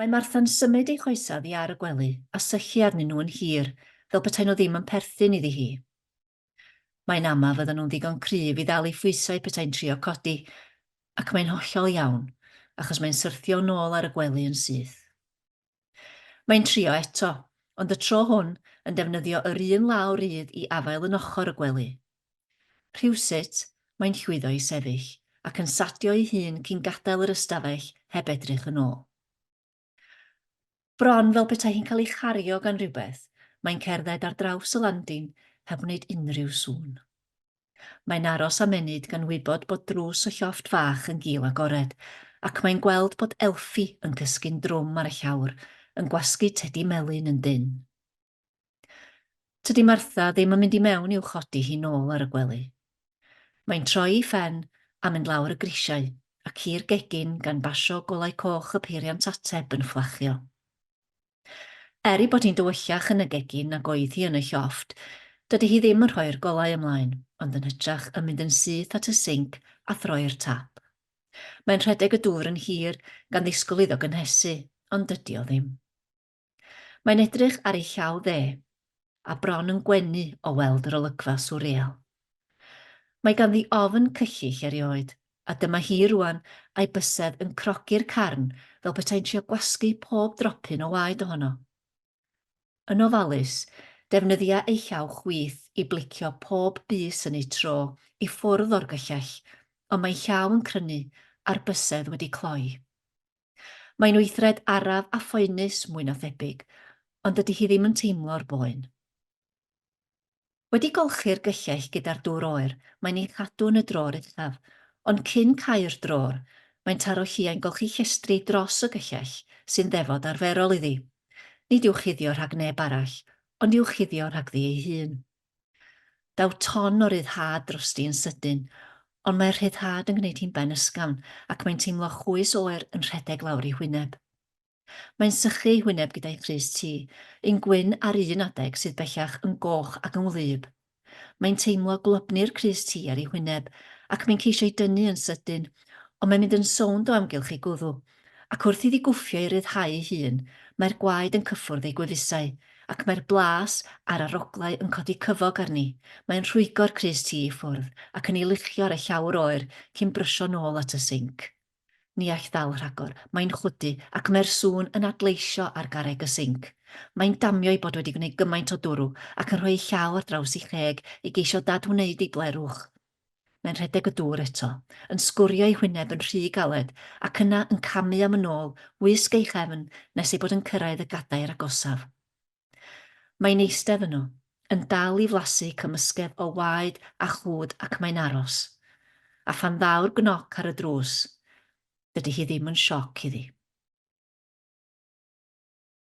Mae Martha'n symud ei choesau oddi ar y gwely a syllu arnyn nhw yn hir, fel petai nhw ddim yn perthyn iddi hi. Mae'n ama fyddan nhw'n ddigon cryf i ddal ei phwysau petai'n trio codi, ac mae'n hollol iawn, achos mae'n syrthio yn ôl ar y gwely yn syth. Mae'n trio eto, ond y tro hwn yn defnyddio yr un law rydd i afael yn ochr y gwely. Rhywsut, mae'n llwyddo i sefyll ac yn sadio ei hun cyn gadael yr ystafell heb edrych yn ôl. Bron fel petai hi'n cael ei chario gan rywbeth, mae'n cerdded ar draws y landin heb wneud unrhyw sŵn. Mae'n aros am ennyd gan wybod bod drws y llofft fach yn gul agored, ac mae'n gweld bod Elfi yn cysgu'n drwm ar y llawr, yn gwasgu tedi melyn yn dynn. Tydi Martha ddim yn mynd i mewn i'w chodi hi nôl ar y gwely. Mae'n troi'i phen a mynd lawr y grisiau ac i'r gegin gan basio golau coch y peiriant ateb yn fflachio. Er ei bod hi'n dywyllach yn y gegin nag oedd hi yn y llofft, dydy hi ddim yn rhoi'r golau ymlaen, ond yn hytrach yn mynd yn syth at y sinc a throi'r tap. Mae'n rhedeg y dŵr yn hir, gan ddisgwyl iddo gynhesu, ond dydy o ddim. Mae'n edrych ar ei llaw dde, a bron yn gwenu o weld yr olygfa swrreal. Mae ganddi ofn cyllyll erioed, a dyma hi rŵan a'i bysedd yn crogi'r carn fel petai'n trio gwasgu pob dropyn o waed ohono. Yn ofalus, defnyddia ei llaw chwith i blicio pob bys yn eu tro i ffwrdd o'r gyllell, ond mae ei llaw yn crynu a'r bysedd wedi cloi. Mae'n weithred araf a phoenus, mwy na thebyg, ond dydy hi ddim yn teimlo'r boen. Wedi golchi'r gyllell gyda'r dŵr oer, mae'n ei chadw yn y drôr uchaf, ond cyn cau'r drôr, mae'n taro lliau'n golchi llestri dros y gyllell, sy'n ddefod arferol iddi. Nid i'w chuddio rhag neb arall, ond i'w chuddio rhagddi ei hun. Daw ton o ryddhad drosti yn sydyn, ond mae'r rhyddhad yn gwneud hi'n ben ysgafn ac mae'n teimlo chwys oer yn rhedeg lawr ei hwyneb. Mae'n sychu ei hwyneb gyda'i phrys tu, un gwyn ar un adeg sydd bellach yn goch ac yn wlyb. Mae'n teimlo gwlybnu'r crys tu ar ei hwyneb ac mae'n ceisio'i dynnu yn sydyn, ond mae'n mynd yn sownd o amgylch ei gwddw Ac wrth iddi gwffio i ryddhau ei hun, mae'r gwaed yn cyffwrdd ei gwefusau, ac mae'r blas a'r aroglau yn codi cyfog arni, mae'n rhwygo'r crys tŷ i ffwrdd, ac yn ei luchio ar y llawr oer cyn brysio nôl at y sinc. Ni all ddal rhagor, mae'n chwydu, ac mae'r sŵn yn adleisio ar garreg y sinc. Mae'n damio ei bod wedi gwneud gymaint o dwrw, ac yn rhoi ei llaw ar draws ei cheg, i geisio dad-wneud ei blerwch. Mae'n rhedeg y dŵr eto, yn sgwrio ei hwyneb yn rhy galed, ac yna yn camu am yn ôl, wisg ei chefn, nes ei bod yn cyrraedd y gadair agosaf. Mae'n eistedd yno, yn dal i flasu cymysgedd o waed a chlwd ac mae'n aros. A phan ddaw'r gnoc ar y drws, dydy hi ddim yn sioc iddi.